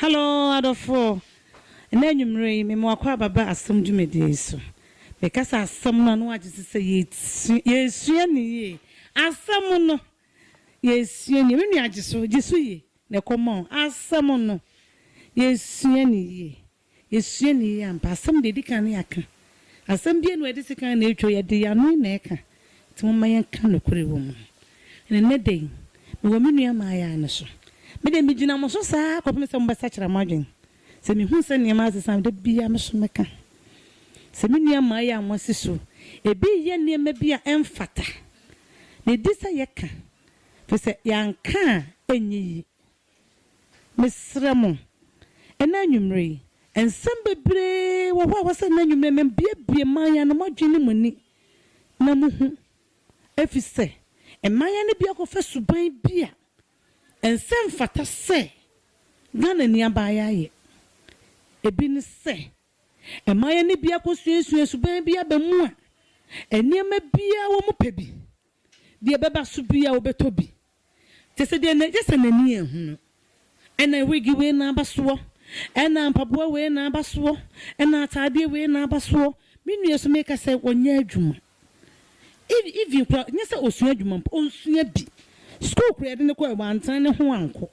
Hello adɔfoɔ, ɛnɛ anwummerɛ yi mema wakɔ aba ba asɛm dwumadie yi so. Mekasa asɛm no a na wagye so sɛ yɛsu- yɛsua ne yie. Asɛm no yɛsua nie. Me nua gye so, gye so yie na ɛkɔma wo. Asɛm no yɛsua ne yie. Esua ni yi ampa. Asɛm deɛ edi kan ne yɛaka. Asɛm biara nni hɔ a yɛde sekan na etwa o, yɛde yɛn ano na ɛka. Nti momma yɛnka nokorɛ wɔ mu. Na ɛnnɛ da yi, mewɔ me nua mmaayaa no so. Me deɛ megyina mo so saa ara kɔpem sɛ mobɛsakyera mo adwene. Sɛ mehu sɛ nneɛma asesa a, da biara me nso mɛka. Sɛ me nua mmaayaa a moasi so ebi reyɛ nneɛma bi a ɛmfata, na edi sɛ yɛka, firi sɛ yɛanka a ɛnyɛ yie. Mesrɛ mo, ɛnnɛ anwummere yi, nsɛm bebree wɔ hɔ a ɛwɔ sɛ ɛnnɛ anwummere no mubuebue mmaeɛ no, moadwene ne mo ani na mohu, ɛfiri sɛ mmaeɛ no bi akɔfa suban bi a ɛnsɛ ɛmfata sɛ Ghanani abaayewa ayɛ. Ebi ne sɛ, mmaeɛ no bi akɔsuasua suban bi aba mu a nneɛma biara a wɔpɛ bi, deɛ ɛbɛba so biara wɔbɛtɔ bi. Kyerɛ sɛ deɛ na gye sɛ n'ani anhu no, ɛna wigi wei na aba soɔ, ɛna mpaboa wei na aba soɔ, ɛna ataadeɛ wei na aba soɔ. Me nua yi so meka sɛ ɔnyɛ adwuma. Ev even koraa nyɛ sɛ ɔsua adwuma mpo, ɔnsua bi. Sukuu koraa yɛde no kɔɛ wantena ne ho ankɔ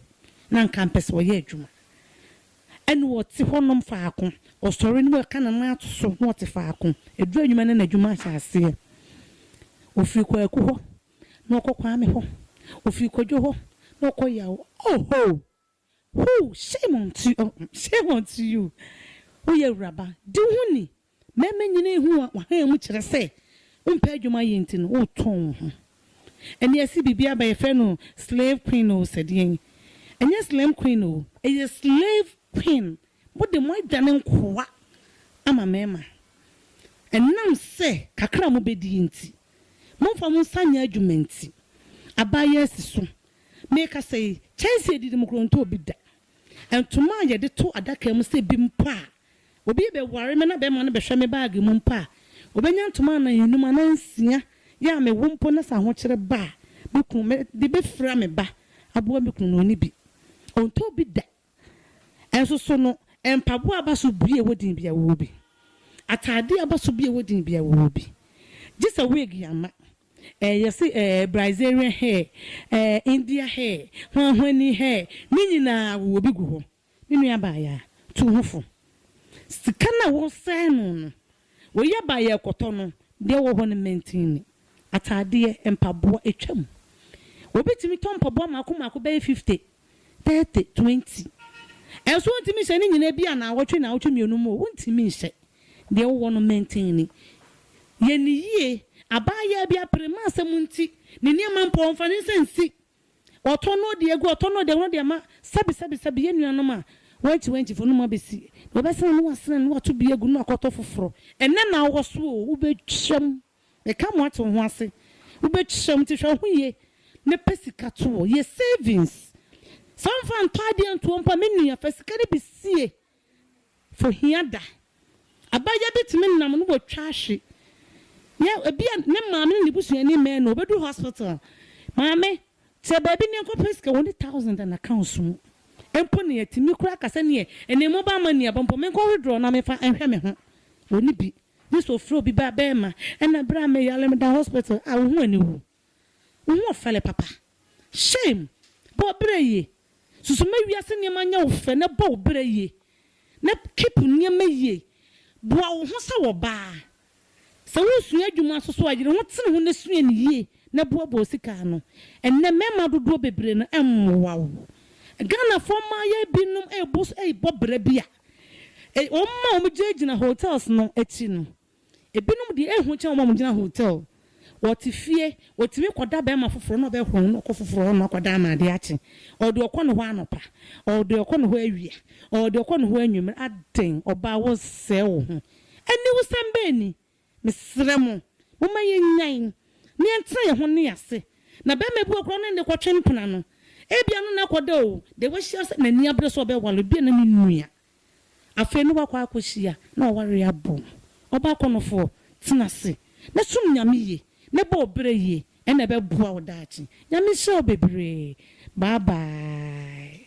na nka mpɛ sɛ ɔyɛ adwuma. Ɛna ɔte hɔ nom faako, ɔsɔre na waka ne nan ato so na ɔte faako. Ɛduru anwuma na n'adwuma ahyɛ aseɛ. Ɔfiri kwaku hɔ na ɔkɔ Kwame hɔ, ɔfiri Kwadwo hɔ na ɔkɔ Yaw oho! Hoo! Shame onto you, oh mm, shame onto you! Woyɛ awuraba, di wo ho ni! Mmarima nyina ahu w'ahamu kyerɛ sɛ wompɛ adwuma yɛ nti no wotɔn wo ho. Ɛnneɛ yɛse biribi aba yɛfrɛ no slave queen oo sɛ deɛn? Ɛnyɛ slim queen oo, ɛyɛ slave queen Mode mo adwane nkoa ama mmarima, ɛnam sɛ kakra a mobɛdie nti, momfa mo nsa nyɛ adwuma nti, aba yɛ asi so. Merekasa yi, kyɛnsee a ɛdidi mu korɔ ntɔɔ bi da. Ntoma a yɛde to adaka mu sɛ bi mpo a obi rebɛware me na bɛrima no bɛhwɛ me baage mu mpo a, ɔbɛnya ntoma anan anum anaa nsia, yɛ a mewo mpo na sɛ ahokyere ba a, me kunu, mede bɛfira me ba aboa me kunu na ɔnni bi. Ɔntɔɔ bi da. Nso so no, mpaboa a aba so bue wɔ din bi a wɔwɔ bi. Atade a aba so bue wɔ din bi a wɔwɔ bi. Gye sɛ wig yɛ ama. Ɛɛ, yɛse ɛɛ, Brazilian hair, ɛɛ, India hair, hwanhwani hair, ne nyinaa wɔwɔ bi gu hɔ. Me nua baa yɛ a, tu wo ho fo. Sika no a wɔresɛe no no, Wei aba a yɛrekɔtɔ no, deɛ ɛwɔ hɔ no mantini, ataadeɛ, mpaboa, atwam. Obi tumi tɔ mpaboa mmaako mmaako bɛyɛ fifte, tɛɛte, tuwɛnti. Ɛnso wontumi nhyɛ ne nyinaa bi anaawɔtwe, naawɔtwe mmienu mu o, wontumi nhyɛ. Deɛ ɛwɔ hɔ no mantini. Yɛ no yie, abaayaa bi apere, mma asɛm nti ne nneɛma mpo ɔmfa ne nsa nsi Ɔtɔ no deɛ gu ɔtɔ no deɛ ɔno deɛ ma sɛbi sɛbi sɛbi yɛn nuanom a wɛnkyi wɛnkyi fɔ no mo abɛsi na ɔbɛsene no wasene no wato bi agu no akɔtɔ foforɔ ɛnɛ na ɔwɔ so oo wobɛtwa mu meka mo ate wo ho ase wobɛtwa mu nti hwɛ wo ho yie na pɛ sika to wɔ yɛ savings sɛ womfa ntɔ adeɛ ntoɔ mpo a me nua fa sika no bi sie Fahia da. Abaayewa bi tumi nam no watwa ahwe yɛ ebia ne maame ne ne busuani mmɛn no ɔbɛduru hospital maame te baabi ne nkɔpɛ sika wɔ ne thousand and accounts mu mpo ne atumi koraa aka sɛneɛ ɛnɛ mobile money aba mpo menkɔ withdraw na mefa nhwɛ me ho wɔ ne bi gye sɛ ɔfrɛ obi bɛɛma ɛna berɛ a meyare meda hospital a wo ho aniwu. Wo ho ɔfɛle papa. Shame! Bɔ wo bra yie. Susu ma wiase nneɛma nyɛ wo fɛ na bɔ wo bra yie na keep nneɛma yie. Boa wo ho sɛ ɔbaa. Sɛ woresua adwuma nso so a, yere ho tene ho na sua no yie na boaboa wo sika ano. Ɛnnɛ mmarima dodoɔ bebree no mmoa wo. Ghanafoɔ mmayewa binom rebɔ bra bi a, wɔn a wɔgyinagyina hotels no akyi no, Ebinom deɛ, ɛho kyɛn wɔn a wɔgyina hotel. Wɔte fie, wɔtumi kɔda barima foforɔ na ɔbɛhoro no na ɔkɔ foforɔ hɔ na ɔkɔda ama adeɛ akye. Ɔwɔ deɛ ɔkɔ ne hɔ anɔpa, ɔwɔ deɛ ɔkɔ ne hɔ awia, ɔwɔ deɛ ɔkɔ ne hɔ anwummerɛ. Adɛn, ɔbaa woresɛe wo ho. Aniwusɛm bɛn ni? Mesrɛ mo, momma yɛnnyae na yɛntena yɛn ho nne ase. Na barima bi wɔ hɔ koraa a, ɔno ne de kɔtwe mpena no. Ebia ɛno na ɛkɔda o, deɛ wahyia sɛ n'ani abere sɛ ɔbɛware, ebia na ne nua. Afei no wakɔ akohyia na ɔware abom. Ɔbaa kɔnɔfoɔ, tena ase na som Nyame yie na bɔ ɔbrɛ yie ɛna ɛbɛboa wo daakye. Nyame nhyira wo bebree. Bye bye.